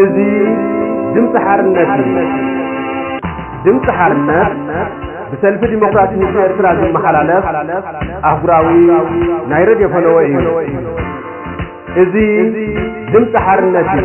እዚ ድምፂ ሓርነት እዩ። ድምፂ ሓርነት ብሰልፊ ዲሞክራሲ ህዝቢ ኤርትራ ዝመሓላለፍ ኣህጉራዊ ናይ ረድዮ ፈነወ እዩ። እዚ ድምፂ ሓርነት እዩ።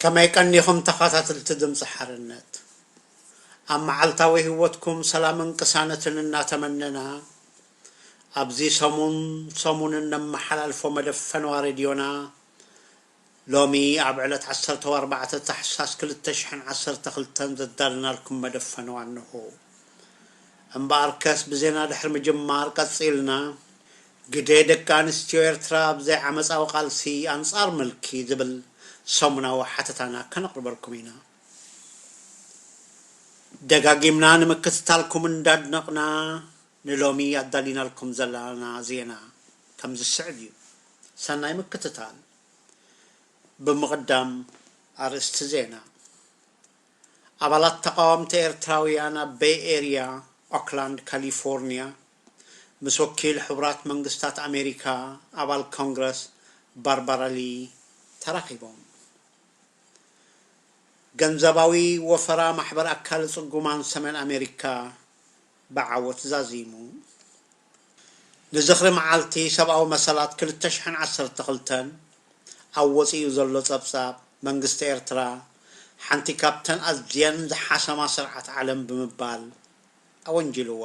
ከመይ ቀኒኹም ተኻታትልቲ ድምጺ ሓርነት። ኣብ መዓልታዊ ሂወትኩም ሰላምን ቅሳነትን እናተመነና ኣብዚ ሰሙን ሰሙን እነመሓላልፎ መደብ ፈነዋ ሬድዮና ሎሚ ኣብ ዕለት ዓሰርተ ወኣርባዕተ ታሕሳስ ክልተ ሽሕን ዓሰርተ ክልተን ዘዳለናልኩም መደብ ፈነዋ እነሆ። እምበኣርከስ ብዜና ድሕሪ ምጅማር ቀጺልና ግደ ደቂ ኣንስትዮ ኤርትራ ኣብ ዘይዓመጻዊ ቃልሲ ኣንጻር ምልኪ ዝብል ሰሙናዊ ሓተታና ከነቕርበልኩም ኢና። ደጋጊምና ንምክትታልኩም እንዳድነቕና፣ ንሎሚ ኣዳሊናልኩም ዘላና ዜና ከም ዝስዕብ እዩ። ሰናይ ምክትታል። ብምቕዳም ኣርእስቲ ዜና፣ ኣባላት ተቓወምቲ ኤርትራውያን ኣብ በይ ኤርያ፣ ኦክላንድ፣ ካሊፎርንያ ምስ ወኪል ሕቡራት መንግስታት ኣሜሪካ ኣባል ኮንግረስ ባርባራ ሊ ተራኺቦም። ገንዘባዊ ወፈራ ማሕበር ኣካለ ጽጉማን ሰሜን ኣሜሪካ ብዓወት ዛዚሙ። ንዝኽሪ መዓልቲ ሰብኣዊ መሰላት ክልተ ሽሕን ዓሰርተ ክልተን ኣብ ወጺኡ ዘሎ ጸብጻብ፣ መንግስቲ ኤርትራ ሓንቲ ካብተን ኣዝየን ዝሓሰማ ስርዓት ዓለም ብምባል ኣወንጂልዋ።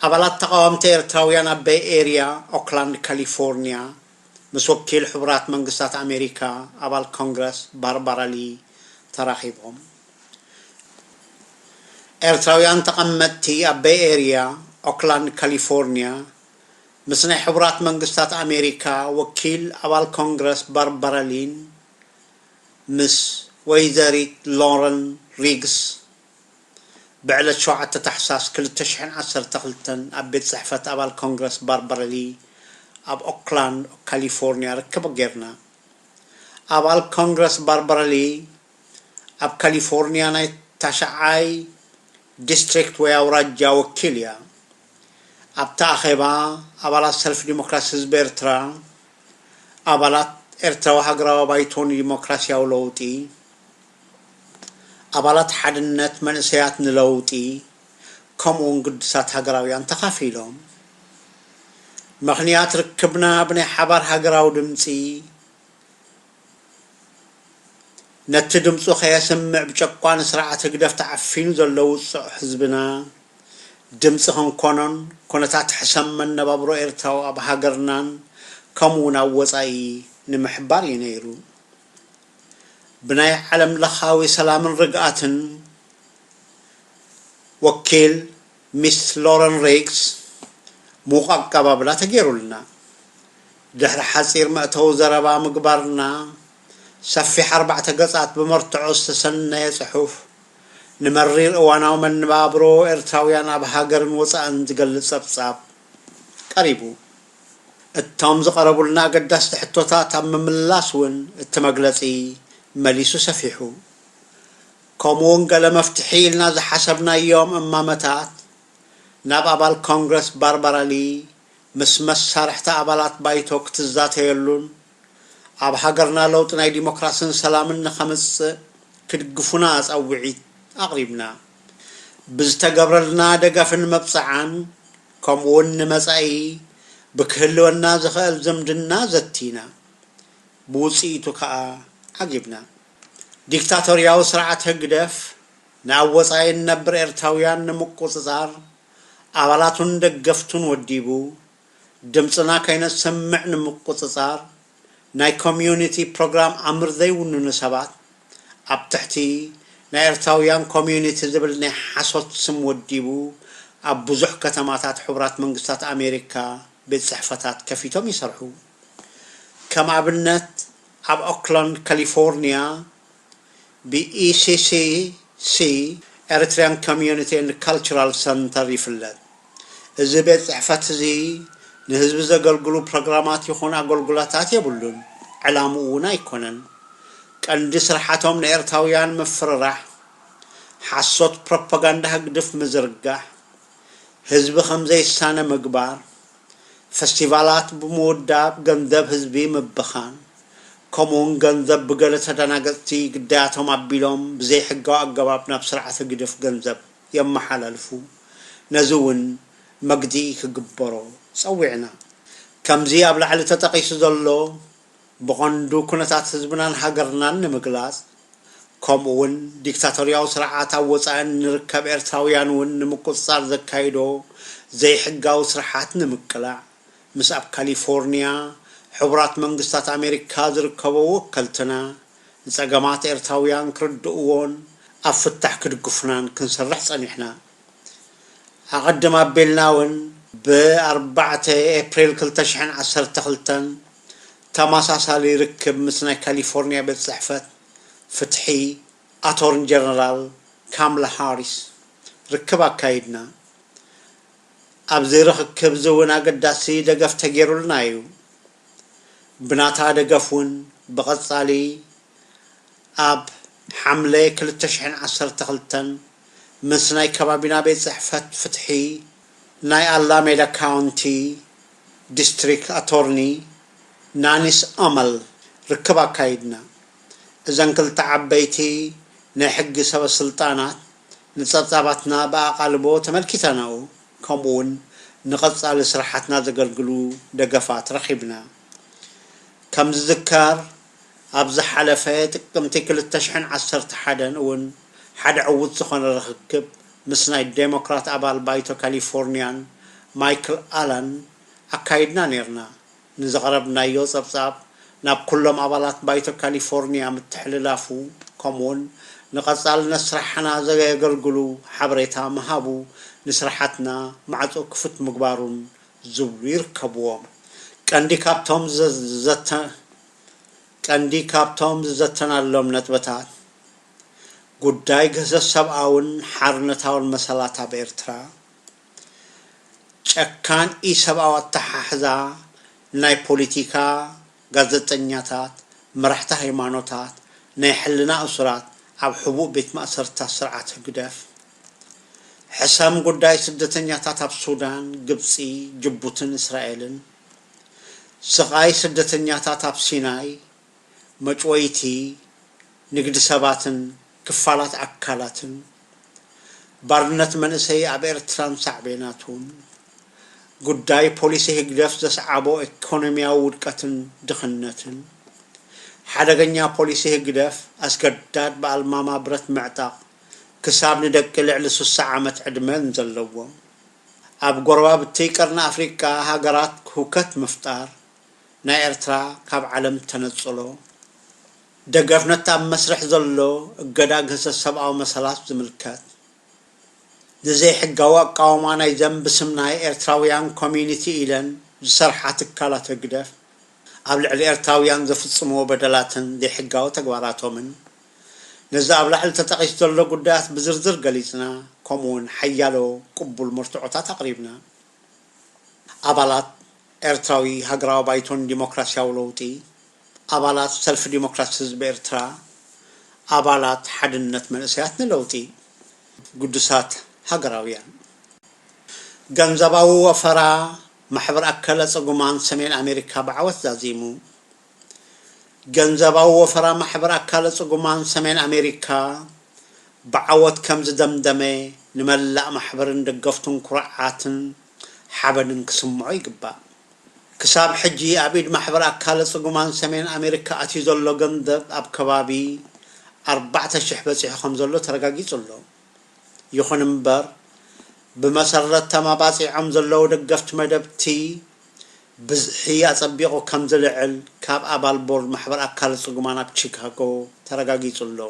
ኣባላት ተቓወምቲ ኤርትራውያን ኣብ በይ ኤርያ፣ ኦክላንድ ካሊፎርንያ፣ ምስ ወኪል ሕቡራት መንግስታት ኣሜሪካ ኣባል ኮንግረስ ባርባራ ሊ ተራኺቦም። ኤርትራውያን ተቐመጥቲ ኣብ በይ ኤርያ፣ ኦክላንድ ካሊፎርንያ፣ ምስ ናይ ሕቡራት መንግስታት ኣሜሪካ ወኪል ኣባል ኮንግረስ ባርባራ ሊን ምስ ወይዘሪት ሎረን ሪግስ፣ ብዕለት ሸውዓተ ታሕሳስ ክልተ ሽሕን ዓሰርተ ክልተን ኣብ ቤት ጽሕፈት ኣባል ኮንግረስ ባርባራ ሊ ኣብ ኦክላንድ ካሊፎርንያ ርክብ ጌርና። ኣባል ኮንግረስ ባርባራ ሊ ኣብ ካሊፎርንያ ናይ ታሽዓይ ዲስትሪክት ወይ ኣውራጃ ወኪል እያ። ኣብቲ ኣኼባ ኣባላት ሰልፊ ዲሞክራሲ ህዝቢ ኤርትራ፣ ኣባላት ኤርትራዊ ሃገራዊ ባይቶ ንዲሞክራስያዊ ለውጢ፣ ኣባላት ሓድነት መንእሰያት ንለውጢ ከምኡውን ግዱሳት ሃገራውያን ተኻፊሎም ምኽንያት ርክብና ብናይ ሓባር ሃገራዊ ድምጺ ነቲ ድምጹ ከየስምዕ ብጨቋኒ ስርዓት ህግደፍ ተዓፊኑ ዘሎ ውጹዕ ህዝብና ድምጺ ክንኮኖን ኩነታት ሕሰም መነባብሮ ኤርትራዊ ኣብ ሃገርናን ከምኡውን ኣብ ወጻኢ ንምሕባር እዩ ነይሩ። ብናይ ዓለም ለኻዊ ሰላምን ርግኣትን ወኪል ሚስ ሎረን ሪግስ ምዉቕ ኣቀባብላ ተገይሩልና፣ ድሕሪ ሓጺር መእተዊ ዘረባ ምግባርና፣ ሰፊሕ ኣርባዕተ ገጻት ብመርትዖ ዝተሰነየ ጽሑፍ፣ ንመሪር እዋናዊ መነባብሮ ኤርትራውያን ኣብ ሃገርን ወጻእን ዝገልጽ ጸብጻብ ቀሪቡ። እቶም ዝቐረቡልና ኣገዳስቲ ሕቶታት ኣብ ምምላስ እውን እቲ መግለጺ መሊሱ ሰፊሑ። ከምኡውን ገለ መፍትሒ ኢልና ዝሓሰብናዮም እማመታት ናብ ኣባል ኮንግረስ ባርባራ ሊ ምስ መሳርሕታ ኣባላት ባይቶ ክትዛተየሉን ኣብ ሃገርና ለውጢ ናይ ዲሞክራስን ሰላምን ንኸምጽእ ክድግፉና ጸውዒት ኣቕሪብና ብዝተገብረልና ደገፍን መብጽዓን ከምኡ'ውን ንመጻኢ ብክህልወና ዝኸእል ዝምድና ዘቲና። ብውጽኢቱ ከኣ ዓጊብና። ዲክታቶርያዊ ስርዓት ህግደፍ ንኣብ ወጻኢ እንነብር ኤርትራውያን ንምቁጽጻር ኣባላቱን ደገፍቱን ወዲቡ፣ ድምጽና ከይነሰምዕ ንምቁጽጻር፣ ናይ ኮምዩኒቲ ፕሮግራም ኣምር ዘይውንኑ ሰባት ኣብ ትሕቲ ናይ ኤርትራውያን ኮምዩኒቲ ዝብል ናይ ሓሶት ስም ወዲቡ ኣብ ብዙሕ ከተማታት ሕቡራት መንግስታት ኣሜሪካ ቤት ጽሕፈታት ከፊቶም ይሰርሑ። ከም ኣብነት ኣብ ኦክላንድ ካሊፎርንያ፣ ብኢሲሲሲ፣ ኤሪትሪያን ኮሚዩኒቲ ኤንድ ካልቸራል ሰንተር፣ ይፍለጥ። እዚ ቤት ጽሕፈት'ዚ ንህዝቢ ዘገልግሉ ፕሮግራማት ይኹን ኣገልጉሎታት የብሉን፣ ዕላምኡ'ውን ኣይኮነን። ቀንዲ ስርሓቶም ንኤርትራውያን ምፍርራሕ፣ ሓሶት ፕሮፓጋንዳ ህግድፍ ምዝርጋሕ፣ ህዝቢ ከምዘይሳነ ምግባር፣ ፈስቲቫላት ብምውዳብ ገንዘብ ህዝቢ ምብኻን፣ ከምኡ'ውን ገንዘብ ብገለ ተደናገጽቲ ግዳያቶም ኣቢሎም ብዘይሕጋዊ ኣገባብ ናብ ስርዓት ህግድፍ ገንዘብ የመሓላልፉ፣ ነዚ እውን መግትኢ ክግበሮ ጸዊዕና። ከምዚ ኣብ ላዕሊ ተጠቒሱ ዘሎ፣ ብቐንዱ ኩነታት ህዝብናን ሃገርናን ንምግላጽ፣ ከምኡ'ውን ዲክታቶርያዊ ስርዓት ኣብ ወጻኢ እንርከብ ኤርትራውያን'ውን ንምቁጽጻር ዘካይዶ ዘይሕጋዊ ስርሓት ንምቅላዕ፣ ምስ ኣብ ካሊፎርንያ፣ ሕቡራት መንግስታት ኣሜሪካ ዝርከቦ ወከልትና፣ ንጸገማት ኤርትራውያን ክርድእዎን ኣብ ፍታሕ ክድግፉናን ክንሰርሕ ጸኒሕና። ኣቐድም ኣቢልና እውን ብ ኣርባዕተ ኤፕሪል ክልተ ሽሕን ዓሰርተ ክልተን ተመሳሳሊ ርክብ ምስ ናይ ካሊፎርኒያ ቤት ጽሕፈት ፍትሒ ኣቶርን ጀነራል ካምላ ሃሪስ ርክብ ኣካይድና። ኣብዚ ርኽክብ እዚ እውን ኣገዳሲ ደገፍ ተገይሩልና እዩ። ብናታ ደገፍ ውን ብቐጻሊ ኣብ ሓምለ ክልተ ሽሕን ዓሰርተ ክልተን ምስ ናይ ከባቢና ቤት ጽሕፈት ፍትሒ ናይ ኣላሜዳ ካውንቲ ዲስትሪክ ኣቶርኒ ናኒስ ኣመል ርክብ ኣካይድና። እዘን ክልተ ዓበይቲ ናይ ሕጊ ሰበ ስልጣናት ንጸብጻባትና ብኣቓልቦ ተመልኪተናኡ። ከምኡ ውን ንቐፃሊ ስራሓትና ዘገልግሉ ደገፋት ረኺብና። ከም ዝዝከር ኣብ ዝሓለፈ ጥቅምቲ ክልተ ሽሕን ዓሰርተ ሓደን እውን ሓደ ዕዉት ዝኾነ ርኽክብ ምስ ናይ ዴሞክራት ኣባል ባይቶ ካሊፎርኒያን ማይክል ኣላን ኣካይድና ኔርና። ንዘቕረብናዮ ጸብጻብ ናብ ኩሎም ኣባላት ባይቶ ካሊፎርኒያ ምትሕልላፉ ከምኡውን ንቐጻልነት ስራሕና ዘገገልግሉ ሓበሬታ ምሃቡ ንስራሓትና ማዕጾ ክፉት ምግባሩን ዝብሉ ይርከብዎም። ቀንዲ ካብቶም ዝዘተ ቀንዲ ካብቶም ዝዘተናሎም ነጥብታት ጉዳይ ግህሰት ሰብኣውን ሓርነታውን መሰላት ኣብ ኤርትራ፣ ጨካን ኢሰብኣዊ ኣተሓሕዛ ናይ ፖሊቲካ ጋዘጠኛታት፣ መራሕቲ ሃይማኖታት፣ ናይ ሕልና እሱራት ኣብ ሕቡእ ቤት ማእሰርትታት ስርዓት ህግደፍ፣ ሕሰም ጉዳይ ስደተኛታት ኣብ ሱዳን፣ ግብጺ፣ ጅቡትን እስራኤልን፣ ስቓይ ስደተኛታት ኣብ ሲናይ፣ መጭወይቲ ንግዲ ሰባትን ክፋላት ኣካላትን፣ ባርነት መንእሰይ ኣብ ኤርትራን ሳዕቤናቱን፣ ጉዳይ ፖሊሲ ህግደፍ ዘስዓቦ ኤኮኖሚያዊ ውድቀትን ድኽነትን፣ ሓደገኛ ፖሊሲ ህግደፍ ኣስገዳድ ብኣልማማ ብረት ምዕጣቕ ክሳብ ንደቂ ልዕሊ ስሳ ዓመት ዕድመ ንዘለዎም ኣብ ጎረባብቲ ቀርኒ ኣፍሪቃ ሃገራት ሁከት ምፍጣር፣ ናይ ኤርትራ ካብ ዓለም ተነጽሎ፣ ደገፍ ነቲ ኣብ መስርሕ ዘሎ እገዳ ግህሰት ሰብኣዊ መሰላት ዝምልከት፣ ንዘይሕጋዊ ኣቃውማ ናይዘን ብስም ናይ ኤርትራውያን ኮሚዩኒቲ ኢለን ዝሰርሓ ትካላት ህግደፍ ኣብ ልዕሊ ኤርትራውያን ዘፍጽምዎ በደላትን ዘይሕጋዊ ተግባራቶምን ነዚ ኣብ ላዕሊ ተጠቒሱ ዘሎ ጉዳያት ብዝርዝር ገሊጽና ከምኡ'ውን ሓያሎ ቅቡል መርትዖታት ኣቕሪብና። ኣባላት ኤርትራዊ ሃገራዊ ባይቶ ንዲሞክራስያዊ ለውጢ፣ ኣባላት ሰልፊ ዲሞክራሲ ህዝቢ ኤርትራ፣ ኣባላት ሓድነት መንእሰያት ንለውጢ፣ ግዱሳት ሃገራውያን። ገንዘባዊ ወፈራ ማሕበር ኣከለ ጽጉማን ሰሜን ኣሜሪካ ብዓወት ዛዚሙ። ገንዘባዊ ወፈራ ማሕበር ኣካለ ጽጉማን ሰሜን ኣሜሪካ ብዓወት ከም ዝደምደመ ንመላእ ማሕበርን ደገፍቱን ኩርዓትን ሓበንን ክስምዖ ይግባእ። ክሳብ ሕጂ ኣብ ኢድ ማሕበር ኣካለ ጽጉማን ሰሜን ኣሜሪካ ኣትዩ ዘሎ ገንዘብ ኣብ ከባቢ ኣርባዕተ ሽሕ በጺሑ ከም ዘሎ ተረጋጊጹ ኣሎ። ይኹን እምበር ብመሰረት ተማባጺዖም ዘለዉ ደገፍቲ መደብ እቲ ብዝሒ ኣጸቢቑ ከም ዝልዕል ካብ ኣባል ቦርድ ማሕበር ኣካለ ጽጉማን ኣብ ቺካጎ ተረጋጊጹ ኣሎ።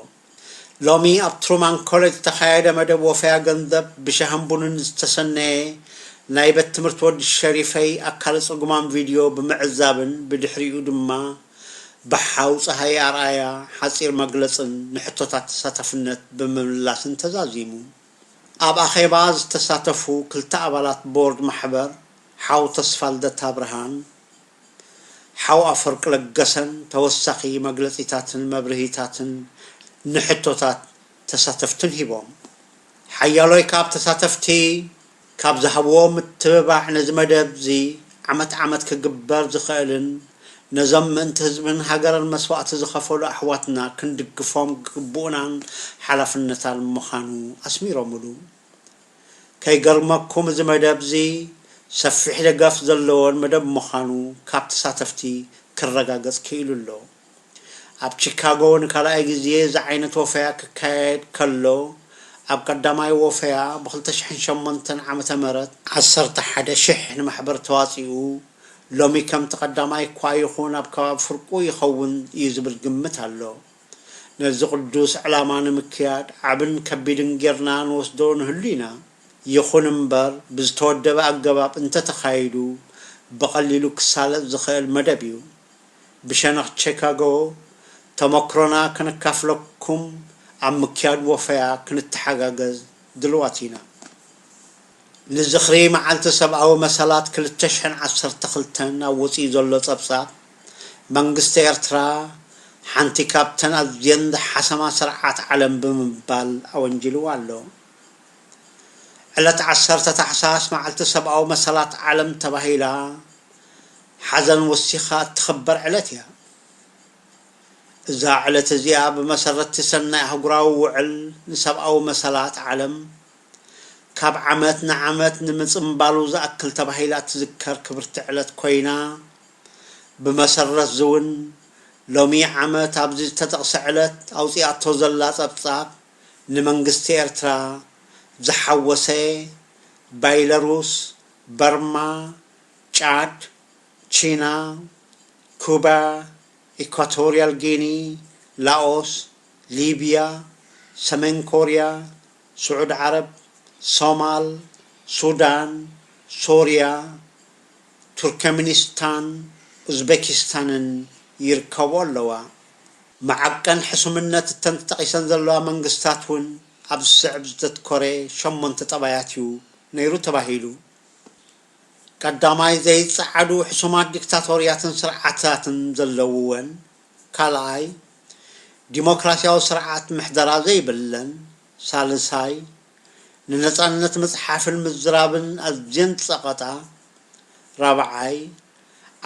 ሎሚ ኣብ ትሩማን ኮሌጅ ዝተኻየደ መደብ ወፈያ ገንዘብ ብሻህን ቡንን ዝተሰነየ ናይ በት ትምህርቲ ወዲ ሸሪፈይ ኣካለ ጽጉማን ቪድዮ ብምዕዛብን ብድሕሪኡ ድማ ብሓው ጸሃየ ኣርኣያ ሓጺር መግለጽን ንሕቶታት ተሳታፍነት ብምምላስን ተዛዚሙ። ኣብ ኣኼባ ዝተሳተፉ ክልተ ኣባላት ቦርድ ማሕበር ሓው ተስፋልደት ኣብርሃን ሓው ኣፈወርቂ ለገሰን ተወሳኺ መግለጺታትን መብርሂታትን ንሕቶታት ተሳተፍትን ሂቦም። ሓያሎይ ካብ ተሳተፍቲ ካብ ዝሃብዎ ምትብባዕ ነዚ መደብ'ዚ ዓመት ዓመት ክግበር ዝኽእልን ነዞም ምእንቲ ህዝብን ሃገርን መስዋእቲ ዝኸፈሉ ኣሕዋትና ክንድግፎም ግቡእናን ሓላፍነታን ምኻኑ ኣስሚሮምሉ። ከይገርመኩም እዚ መደብ'ዚ ሰፊሕ ደገፍ ዘለዎን መደብ ምኻኑ ካብ ተሳተፍቲ ክረጋገጽ ክኢሉ ኣሎ። ኣብ ቺካጎ ንካልኣይ ግዜ እዚ ዓይነት ወፈያ ክካየድ ከሎ፣ ኣብ ቀዳማይ ወፈያ ብ ክልተ ሽሕን ሸሞንተን ዓመተ ምህረት፣ ዓሰርተ ሓደ ሽሕ ንማሕበር ተዋጺኡ፣ ሎሚ ከምቲ ቀዳማይ እኳ ይኹን ኣብ ከባቢ ፍርቁ ይኸውን እዩ ዝብል ግምት ኣሎ። ነዚ ቅዱስ ዕላማ ንምክያድ ዓብን ከቢድን ጌርና ንወስዶ ንህሉ ኢና። ይኹን እምበር ብዝተወደበ ኣገባብ እንተተኻይዱ ብቐሊሉ ክሳለጥ ዝኸእል መደብ እዩ። ብሸነኽ ቼካጎ ተመክሮና ከነካፍለኩም ኣብ ምክያድ ወፈያ ክንተሓጋገዝ ድልዋት ኢና። ንዝኽሪ መዓልቲ ሰብኣዊ መሰላት ክልተ ሽሕን ዓሰርተ ክልተን ኣብ ወጺኡ ዘሎ ጸብጻብ፣ መንግስቲ ኤርትራ ሓንቲ ካብተን ኣዝየን ዝሓሰማ ስርዓት ዓለም ብምባል ኣወንጂልዋ ኣሎ። ዕለት ዓሰርተ ታሕሳስ መዓልቲ ሰብኣዊ መሰላት ዓለም ተባሂላ፣ ሓዘን ወሲኻ እትኽበር ዕለት እያ። እዛ ዕለት እዚኣ ብመሰረት'ቲ ሰናይ ኣህጉራዊ ውዕል ንሰብኣዊ መሰላት ዓለም፣ ካብ ዓመት ንዓመት ንምጽንባሉ ዝኣክል ተባሂላ እትዝከር ክብርቲ ዕለት ኮይና፣ ብመሰረት'ዚ'ውን ሎሚ ዓመት ኣብዚ ዝተጠቕሰ ዕለት ኣውጺኣቶ ዘላ ጸብጻብ ንመንግስቲ ኤርትራ ዝሓወሰ ባይለሩስ፣ በርማ፣ ጫድ፣ ቺና፣ ኩባ፣ ኢኳቶርያል ጊኒ፣ ላኦስ፣ ሊብያ፣ ሰሜን ኮርያ፣ ስዑድ ዓረብ፣ ሶማል፣ ሱዳን፣ ሶርያ፣ ቱርከሚኒስታን ኡዝቤኪስታንን ይርከብኦ ኣለዋ። መዐቀን ሕሱምነት እተን ተጠቒሰን ዘለዋ መንግስታት እውን ኣብ ዝስዕብ ዘተትኮረ ሸሞንተ ጠባያት እዩ ነይሩ ተባሂሉ። ቀዳማይ ዘይጸዓዱ ሕሱማት ዲክታቶርያትን ስርዓታትን ዘለዉወን፣ ካልኣይ ዲሞክራሲያዊ ስርዓት ምሕደራ ዘይብለን፣ ሳልሳይ ንነጻነት ምጽሓፍን ምዝራብን ኣዝየን ዝጸቐጣ፣ ራብዓይ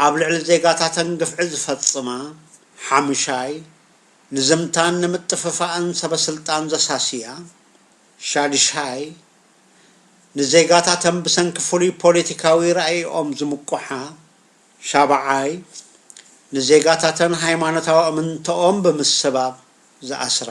ኣብ ልዕሊ ዜጋታተን ግፍዒ ዝፈጽማ፣ ሓምሻይ ንዝምታን ንምጥፍፋእን ሰበ-ስልጣን ዘሳስያ፣ ሻድሻይ ንዜጋታተን ብሰንኪ ፍሉይ ፖሊቲካዊ ራኢኦም ዝምቁሓ ሻባዓይ ንዜጋታተን ሃይማኖታዊ እምንተኦም ብምስባብ ዝኣስራ።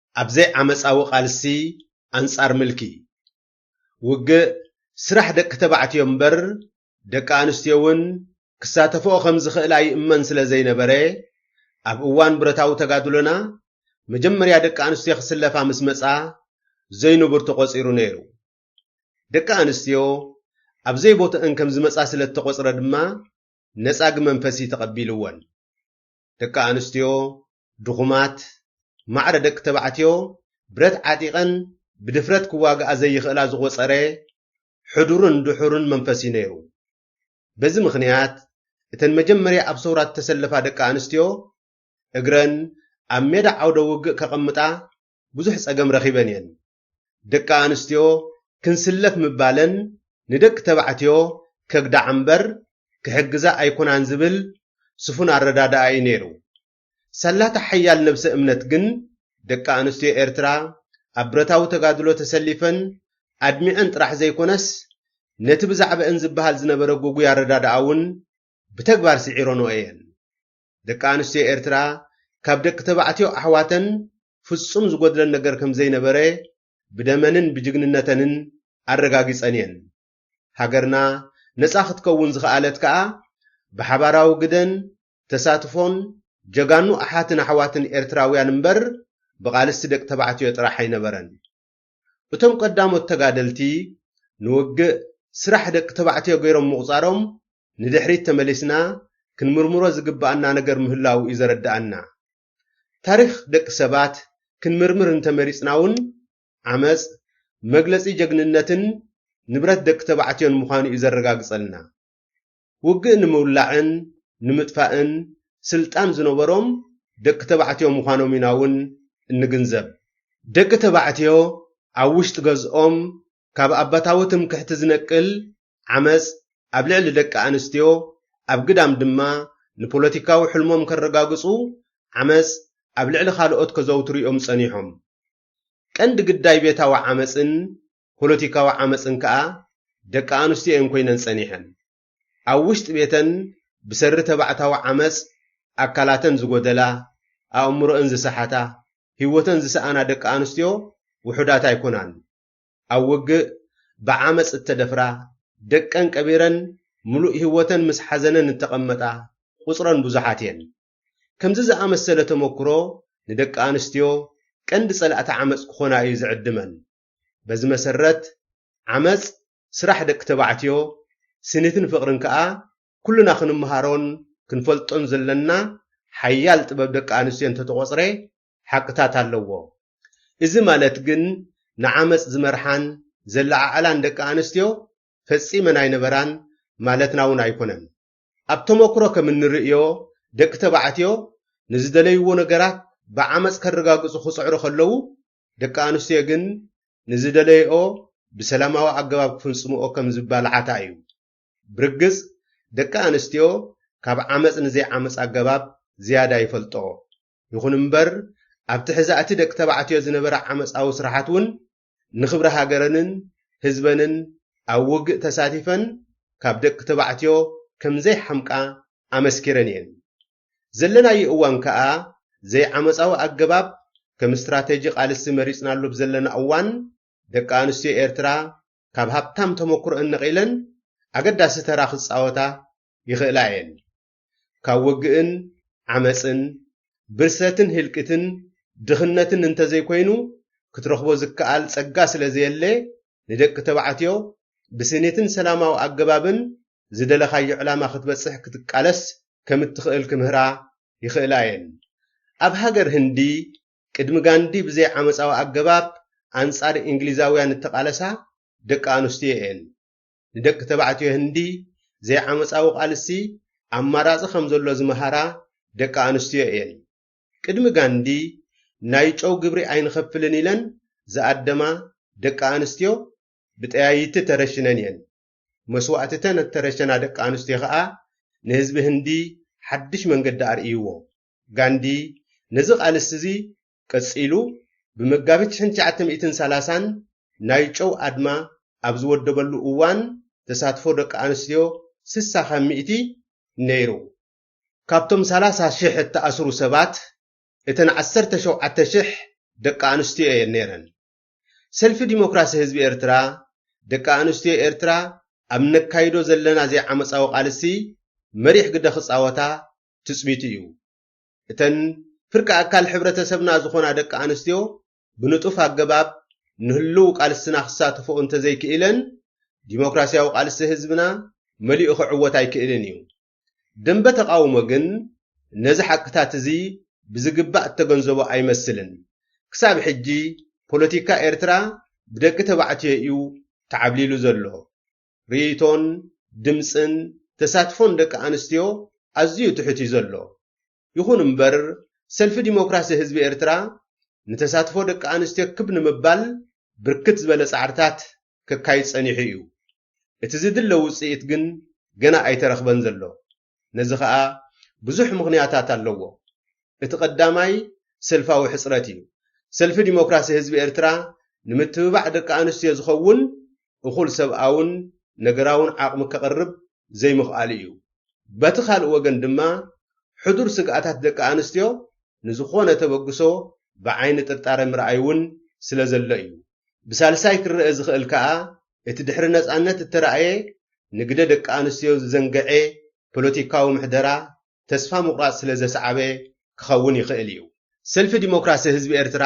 ኣብ ዘይዓመጻዊ ቃልሲ ኣንጻር ምልኪ። ውግእ ስራሕ ደቂ ተባዕትዮ እምበር ደቂ ኣንስትዮ እውን ክሳተፍኦ ከም ዝኽእላ ይእመን ስለ ዘይነበረ፣ ኣብ እዋን ብረታዊ ተጋድሎና መጀመርያ ደቂ ኣንስትዮ ክስለፋ ምስ መጻ ዘይንቡር ተቖጺሩ ነይሩ። ደቂ ኣንስትዮ ኣብ ዘይቦትኣን ከም ዝመጻ ስለ እተቖጽረ ድማ ነጻጊ መንፈሲ ተቐቢልወን። ደቂ ኣንስትዮ ድኹማት፣ ማዕረ ደቂ ተባዕትዮ ብረት ዓጢቐን ብድፍረት ክዋግኣ ዘይኽእላ ዝቖጸረ ሕዱርን ድሑርን መንፈስ እዩ ነይሩ። በዚ ምኽንያት እተን መጀመርያ ኣብ ሰውራ እተሰለፋ ደቂ ኣንስትዮ እግረን ኣብ ሜዳ ዓውደ ውግእ ከቐምጣ ብዙሕ ጸገም ረኺበን እየን። ደቂ ኣንስትዮ ክንስለፍ ምባለን ንደቂ ተባዕትዮ ከግዳዓ እምበር ክሕግዛ ኣይኮናን ዝብል ስፉን ኣረዳድኣ እዩ ነይሩ። ሳላታ ሓያል ነብሰ እምነት ግን ደቂ ኣንስትዮ ኤርትራ ኣብ ብረታዊ ተጋድሎ ተሰሊፈን ኣድሚዐን ጥራሕ ዘይኮነስ ነቲ ብዛዕበእን ዝበሃል ዝነበረ ጉጉይ ኣረዳድኣ'ውን ብተግባር ስዒረንኦ እየን። ደቂ ኣንስትዮ ኤርትራ ካብ ደቂ ተባዕትዮ ኣሕዋተን ፍጹም ዝጎድለን ነገር ከም ዘይነበረ ብደመንን ብጅግንነተንን ኣረጋጊጸን እየን። ሃገርና ነጻ ክትከውን ዝኸኣለት ከኣ ብሓባራዊ ግደን ተሳትፎን ጀጋኑ ኣሓትን ኣሕዋትን ኤርትራውያን እምበር ብቓልስቲ ደቂ ተባዕትዮ ጥራሕ ኣይነበረን። እቶም ቀዳሞት ተጋደልቲ ንውግእ ስራሕ ደቂ ተባዕትዮ ገይሮም ምቑፃሮም ንድሕሪት ተመሊስና ክንምርምሮ ዝግበኣና ነገር ምህላዉ እዩ ዘረደኣና። ታሪኽ ደቂ ሰባት ክንምርምር እንተመሪፅና እውን ዓመፅ መግለፂ ጀግንነትን ንብረት ደቂ ተባዕትዮን ምዃኑ እዩ ዘረጋግፀልና። ውግእ ንምውላዕን ንምጥፋእን ስልጣን ዝነበሮም ደቂ ተባዕትዮ ምዃኖም ኢና እውን እንግንዘብ። ደቂ ተባዕትዮ ኣብ ውሽጢ ገዝኦም ካብ ኣባታዊ ትምክሕቲ ዝነቅል ዓመጽ ኣብ ልዕሊ ደቂ ኣንስትዮ፣ ኣብ ግዳም ድማ ንፖለቲካዊ ሕልሞም ከረጋግጹ ዓመጽ ኣብ ልዕሊ ካልኦት ከዘውትሩ እዮም ጸኒሖም። ቀንዲ ግዳይ ቤታዊ ዓመጽን ፖለቲካዊ ዓመጽን ከኣ ደቂ ኣንስትዮ እየን ኮይነን ጸኒሐን። ኣብ ውሽጢ ቤተን ብሰሪ ተባዕታዊ ዓመጽ ኣካላተን ዝጎደላ፣ ኣእምሮኣን ዝሰሓታ፣ ህይወተን ዝሰኣና ደቂ ኣንስትዮ ውሑዳት ኣይኮናን። ኣብ ውግእ ብዓመጽ እተደፍራ፣ ደቀን ቀቢረን ምሉእ ህይወተን ምስ ሓዘነን እተቐመጣ ቁጽረን ብዙሓት እየን። ከምዚ ዝኣመሰለ ተመኩሮ ንደቂ ኣንስትዮ ቀንዲ ጸላእቲ ዓመጽ ክኾና እዩ ዝዕድመን። በዚ መሰረት ዓመጽ ስራሕ ደቂ ተባዕትዮ ስኒትን ፍቕርን ከኣ ኩልና ክንመሃሮን ክንፈልጦን ዘለና ሓያል ጥበብ ደቂ ኣንስትዮ እንተተቖጽረ ሓቅታት ኣለዎ። እዚ ማለት ግን ንዓመጽ ዝመርሓን ዘለዓዕላን ደቂ ኣንስትዮ ፈጺመን ኣይነበራን ማለትና እውን ኣይኮነን። ኣብ ተመኩሮ ከም እንርእዮ ደቂ ተባዕትዮ ንዝደለይዎ ነገራት ብዓመጽ ከረጋግጹ ክጽዕሩ ከለዉ ደቂ ኣንስትዮ ግን ንዝደለይኦ ብሰላማዊ ኣገባብ ክፍንጽምኦ ከም ዝባልዓታ እዩ። ብርግጽ ደቂ ኣንስትዮ ካብ ዓመጽ ንዘይዓመጽ ኣገባብ ዝያዳ ይፈልጥኦ። ይኹን እምበር ኣብ ትሕዛእቲ ደቂ ተባዕትዮ ዝነበራ ዓመጻዊ ስራሓት እውን ንክብሪ ሃገረንን ህዝበንን ኣብ ውግእ ተሳቲፈን ካብ ደቂ ተባዕትዮ ከም ዘይሓምቃ ኣመስኪረን እየን። ዘለናዮ እዋን ከኣ ዘይዓመጻዊ ኣገባብ ከም ስትራተጂ ቃልሲ መሪጽናሉ ኣብ ዘለና እዋን ደቂ ኣንስትዮ ኤርትራ ካብ ሃብታም ተመኩሮኣን ነቒለን ኣገዳሲ ተራ ክጻወታ ይኽእላ እየን። ካብ ወግእን ዓመጽን፣ ብርሰትን ህልቂትን ድኽነትን እንተዘይኮይኑ ክትረኽቦ ዝከኣል ጸጋ ስለዘየለ ንደቂ ተባዕትዮ ብስኒትን ሰላማዊ ኣገባብን ዝደለኻዮ ዕላማ ክትበጽሕ ክትቃለስ ከም እትኽእል ክምህራ ይኽእላ እየን። ኣብ ሃገር ህንዲ፣ ቅድሚ ጋንዲ ብዘይ ዓመጻዊ ኣገባብ ኣንጻር እንግሊዛውያን እተቓለሳ ደቂ ኣንስትዮ እየን። ንደቂ ተባዕትዮ ህንዲ ዘይዓመጻዊ ቃልሲ ኣማራጺ ከም ዘሎ ዝመሃራ ደቂ ኣንስትዮ እየን። ቅድሚ ጋንዲ ናይ ጨው ግብሪ ኣይንኸፍልን ኢለን ዝኣደማ ደቂ ኣንስትዮ ብጠያይቲ ተረሽነን እየን። መስዋእቲ'ተን እተረሸና ደቂ ኣንስትዮ ከኣ ንህዝቢ ህንዲ ሓድሽ መንገዲ ኣርእይዎ። ጋንዲ ነዚ ቃልሲ'ዚ ቀጺሉ ብመጋቢት ሽሕን ትሽዓተ ሚእትን ሰላሳን ናይ ጨው ኣድማ ኣብ ዝወደበሉ እዋን ተሳትፎ ደቂ ኣንስትዮ ስሳ ካብ ሚእቲ ነይሩ። ካብቶም ሰላሳ ሽሕ እተኣስሩ ሰባት እተን ዓሰርተ ሸውዓተ ሽሕ ደቂ ኣንስትዮ እየን ነይረን። ሰልፊ ዲሞክራሲ ህዝቢ ኤርትራ፣ ደቂ ኣንስትዮ ኤርትራ ኣብ እነካይዶ ዘለና ዘይዓመጻዊ ቃልሲ መሪሕ ግደ ክጻወታ ትጽቢቱ እዩ። እተን ፍርቂ ኣካል ሕብረተሰብና ዝኾና ደቂ ኣንስትዮ ብንጡፍ ኣገባብ ንህሉው ቃልስና ክሳተፍኦ እንተዘይክኢለን ዲሞክራስያዊ ቃልሲ ህዝብና መሊኡ ክዕወት ኣይክእልን እዩ። ደምበ ተቓውሞ ግን ነዚ ሓቅታት እዚ ብዝግባእ እተገንዘቦ ኣይመስልን። ክሳብ ሕጂ ፖለቲካ ኤርትራ ብደቂ ተባዕትዮ እዩ ተዓብሊሉ ዘሎ። ርእይቶን ድምጽን ተሳትፎን ደቂ ኣንስትዮ ኣዝዩ ትሑት እዩ ዘሎ። ይኹን እምበር ሰልፊ ዲሞክራሲ ህዝቢ ኤርትራ ንተሳትፎ ደቂ ኣንስትዮ ክብ ንምባል ብርክት ዝበለ ጻዕርታት ከካይድ ጸኒሑ ኢዩ። እቲ ዝድለ ውጽኢት ግን ገና ኣይተረኽበን ዘሎ። ነዚ ከኣ ብዙሕ ምኽንያታት ኣለዎ። እቲ ቀዳማይ ሰልፋዊ ሕጽረት ኢዩ። ሰልፊ ዲሞክራሲ ህዝቢ ኤርትራ ንምትብባዕ ደቂ ኣንስትዮ ዝኸውን እኹል ሰብኣውን ነገራውን ዓቕሚ ከቕርብ ዘይምኽኣሉ እዩ። በቲ ካልእ ወገን ድማ ሕዱር ስግኣታት ደቂ ኣንስትዮ ንዝኾነ ተበግሶ ብዓይኒ ጥርጣረ ምርኣይ እውን ስለዘሎ እዩ። ብሳልሳይ ክረኣ ዝኽእል ከኣ እቲ ድሕሪ ነጻነት እተራእየ ንግደ ደቂ ኣንስትዮ ዝዘንገዔ ፖለቲካዊ ምሕደራ ተስፋ ምቑራጽ ስለ ዘስዓበ ክኸውን ይኽእል እዩ። ሰልፊ ዲሞክራሲ ህዝቢ ኤርትራ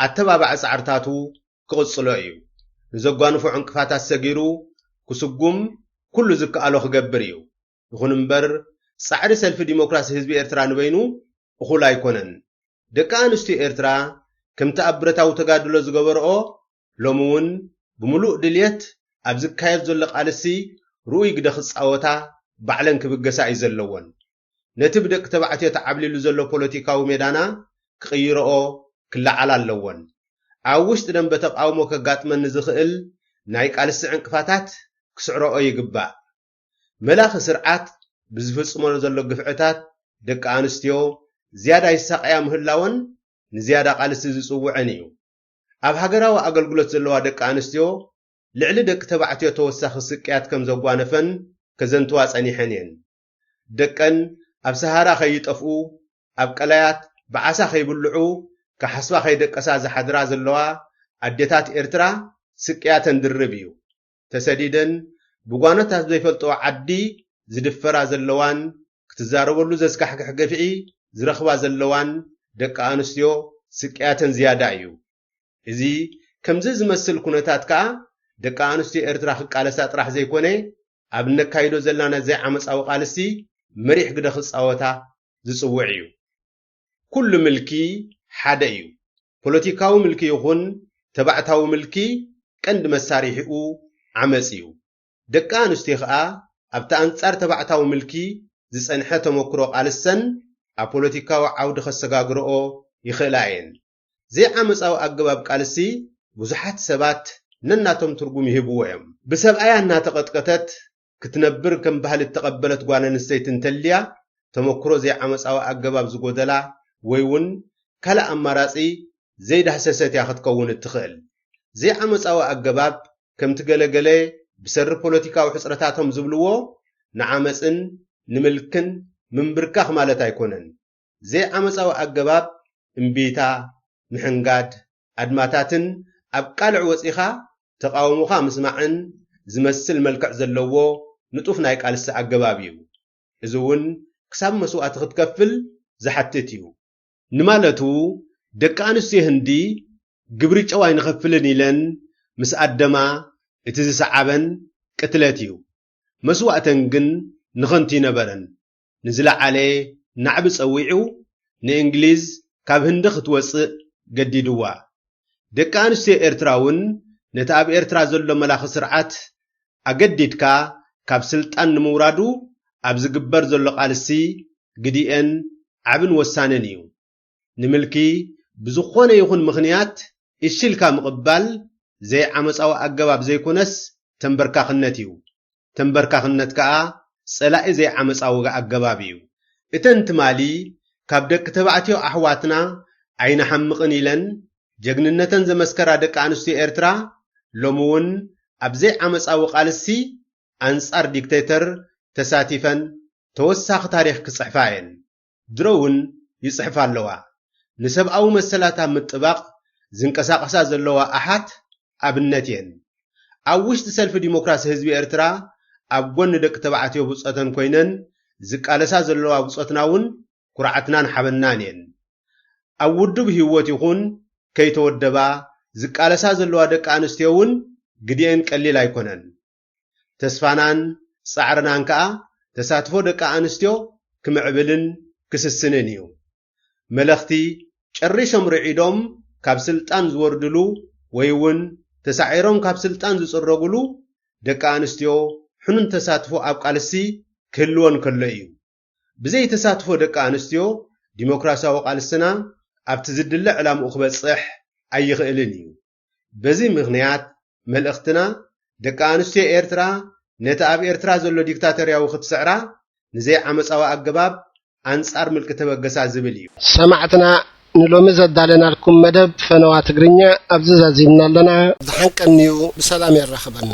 ኣተባባዒ ጻዕርታቱ ክቕጽሎ እዩ። ንዘጓንፎ ዕንቅፋታት ሰጊሩ ክስጉም ኩሉ ዝከኣሎ ክገብር እዩ። ይኹን እምበር ጻዕሪ ሰልፊ ዲሞክራሲ ህዝቢ ኤርትራ ንበይኑ እኹል ኣይኮነን። ደቂ ኣንስትዮ ኤርትራ ከምቲ ኣብ ብረታዊ ተጋድሎ ዝገበርኦ ሎሚ እውን ብምሉእ ድልየት ኣብ ዝካየድ ዘሎ ቃልሲ ርኡይ ግደ ክጻወታ ባዕለን ክብገሳ እዩ ዘለወን። ነቲ ብደቂ ተባዕትዮ ተዓብሊሉ ዘሎ ፖለቲካዊ ሜዳና ክቕይረኦ ክለዓላ ኣለወን። ኣብ ውሽጢ ደምበ ተቓውሞ ከጋጥመን ንዝኽእል ናይ ቃልሲ ዕንቅፋታት ክስዕረኦ ይግባእ። መላኺ ስርዓት ብዝፍጽሞ ዘሎ ግፍዕታት ደቂ ኣንስትዮ ዝያዳ ይሳቐያ ምህላወን ንዝያዳ ቃልሲ ዝጽውዐን እዩ። ኣብ ሃገራዊ ኣገልግሎት ዘለዋ ደቂ ኣንስትዮ ልዕሊ ደቂ ተባዕትዮ ተወሳኺ ስቅያት ከም ዘጓነፈን ከዘንትዋ ጸኒሐን እየን። ደቀን ኣብ ሰሃራ ከይጠፍኡ፣ ኣብ ቀላያት ብዓሳ ከይብልዑ ክሓስባ ከይደቀሳ ዝሓድራ ዘለዋ ኣዴታት ኤርትራ ስቅያተን ድርብ እዩ። ተሰዲደን ብጓኖት ኣብ ዘይፈልጥኦ ዓዲ ዝድፈራ ዘለዋን ክትዛረበሉ ዘስካሕክሕ ግፍዒ ዝረኽባ ዘለዋን ደቂ ኣንስትዮ ስቅያተን ዝያዳ እዩ። እዚ ከምዚ ዝመስል ኩነታት ከኣ ደቂ ኣንስትዮ ኤርትራ ክቃለሳ ጥራሕ ዘይኮነ ኣብ እነካይዶ ዘላና ዘይዓመጻዊ ቃልሲ መሪሕ ግደ ክጻወታ ዝጽውዕ እዩ። ኩሉ ምልኪ ሓደ እዩ። ፖለቲካዊ ምልኪ ይኹን ተባዕታዊ ምልኪ ቀንዲ መሳርሒኡ ዓመጽ እዩ። ደቂ ኣንስትዮ ከኣ ኣብቲ ኣንጻር ተባዕታዊ ምልኪ ዝጸንሐ ተመኩሮ ቃልሰን ኣብ ፖለቲካዊ ዓውዲ ከሰጋግርኦ ይኽእላ እየን። ዘይዓመጻዊ ኣገባብ ቃልሲ ብዙሓት ሰባት ነናቶም ትርጉም ይህብዎ እዮም። ብሰብኣያ እናተቐጥቀተት ክትነብር ከም ባህሊ እተቐበለት ጓል ኣንስተይቲ እንተልያ፣ ተመኩሮ ዘይዓመጻዊ ኣገባብ ዝጎደላ ወይ'ውን ካልእ ኣማራጺ ዘይዳህሰሰት እያ ክትከውን እትኽእል። ዘይዓመጻዊ ኣገባብ፣ ከምቲ ገለ ገለ ብሰሪ ፖለቲካዊ ሕጽረታቶም ዝብልዎ፣ ንዓመጽን ንምልክን ምምብርካኽ ማለት ኣይኮነን። ዘይዓመጻዊ ኣገባብ እምቢታ፣ ምሕንጋድ፣ ኣድማታትን ኣብ ቃልዕ ወጺኻ ተቓውሞኻ ምስማዕን ዝመስል መልክዕ ዘለዎ ንጡፍ ናይ ቃልሲ ኣገባብ እዩ። እዚ እውን ክሳብ መስዋእቲ ክትከፍል ዝሓትት እዩ። ንማለቱ ደቂ ኣንስትዮ ህንዲ ግብሪ ጨው ኣይንኸፍልን ኢለን ምስ ኣደማ እቲ ዝሰዓበን ቅትለት እዩ። መስዋእተን ግን ንኸንቱ ኣይነበረን። ንዝለዓለ ናዕቢ ጸዊዑ ንእንግሊዝ ካብ ህንዲ ክትወጽእ ገዲድዋ። ደቂ ኣንስትዮ ኤርትራ እውን ነቲ ኣብ ኤርትራ ዘሎ መላኺ ስርዓት ኣገዲድካ ካብ ስልጣን ንምውራዱ ኣብ ዝግበር ዘሎ ቃልሲ ግዲኤን ዓብን ወሳንን እዩ። ንምልኪ ብዝኾነ ይኹን ምኽንያት እሺ ኢልካ ምቕባል ዘይዓመጻዊ ኣገባብ ዘይኮነስ ተምበርካኽነት እዩ። ተምበርካኽነት ከኣ ጸላኢ ዘይዓመጻዊ ኣገባብ እዩ። እተን ትማሊ ካብ ደቂ ተባዕትዮ ኣሕዋትና ኣይንሓምቕን ኢለን ጀግንነተን ዘመስከራ ደቂ ኣንስትዮ ኤርትራ ሎሚ ውን ኣብ ዘይዓመጻዊ ቃልሲ ኣንጻር ዲክተይተር ተሳቲፈን ተወሳኺ ታሪኽ ክጽሕፋ እየን። ድሮ'ውን ይጽሕፋ ኣለዋ። ንሰብኣዊ መሰላት ኣብ ምጥባቕ ዝንቀሳቐሳ ዘለዋ ኣሓት ኣብነት'የን። ኣብ ውሽጢ ሰልፊ ዲሞክራሲ ህዝቢ ኤርትራ ኣብ ጎኒ ደቂ ተባዕትዮ ብጾተን ኮይነን ዝቃለሳ ዘለዋ ብጾትና'ውን ኩርዓትናን ሓበንናን'የን። ኣብ ውዱብ ህይወት ይኹን ከይተወደባ ዝቃለሳ ዘለዋ ደቂ ኣንስትዮ'ውን ግዲኤን ቀሊል ኣይኮነን። ተስፋናን ጻዕርናን ከኣ ተሳትፎ ደቂ ኣንስትዮ ክምዕብልን ክስስንን እዩ። መለኽቲ ጨሪሶም ርዒዶም ካብ ስልጣን ዝወርድሉ ወይ እውን ተሳዒሮም ካብ ስልጣን ዝጽረጉሉ ደቂ ኣንስትዮ ሕኑን ተሳትፎ ኣብ ቃልሲ ክህልወን ከሎ እዩ። ብዘይ ተሳትፎ ደቂ ኣንስትዮ ዲሞክራሲያዊ ቃልስና ኣብቲ ዝድለ ዕላምኡ ክበጽሕ ኣይኽእልን እዩ። በዚ ምኽንያት መልእኽትና ደቂ ኣንስትዮ ኤርትራ ነቲ ኣብ ኤርትራ ዘሎ ዲክታቶርያዊ ክትስዕራ ንዘይዓመጻዊ ኣገባብ ኣንጻር ምልኪ ተበገሳ ዝብል እዩ። ሰማዕትና ንሎሚ ዘዳለናልኩም መደብ ፈነዋ ትግርኛ ኣብዚ ዛዚምና ኣለና። ዝሓንቀን'ዩ ብሰላም የራኽበና።